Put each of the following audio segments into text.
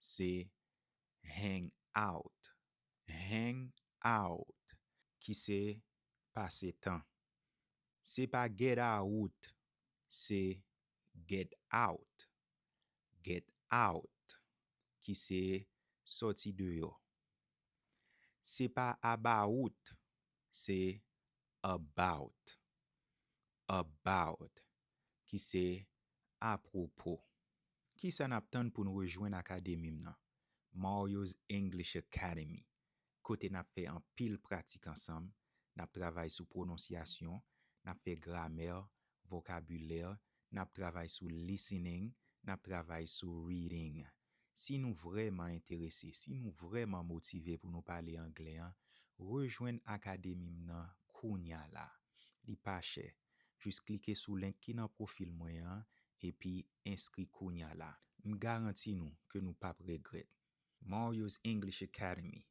se hang out, hang out, ki se pase tan. Se pa get awout, se get out, get out, ki se sòti deyò. Se pa abawout, se about, about, ki se Apwopo. Kisa n ap tann pou n rejwenn akademi m nan, Mario's English Academy, kote n ap fè anpil pratik ansanm, n ap travay sou pwononsyasyon, n ap fè gramè, vokabilè, n ap travay sou listening, n ap travay sou reading. Si nou vrèman enterese, si nou vrèman motive pou nou pale anglè an, rejwenn akademi m nan kounya la. Li pa chè. Jis klike sou link ki nan pwofil mwen an epi enskri kounya la. M garanti nou ke nou p ap regrèt. Mario's English Academy,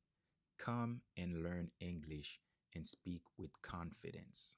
Come and learn English and speak with confidence.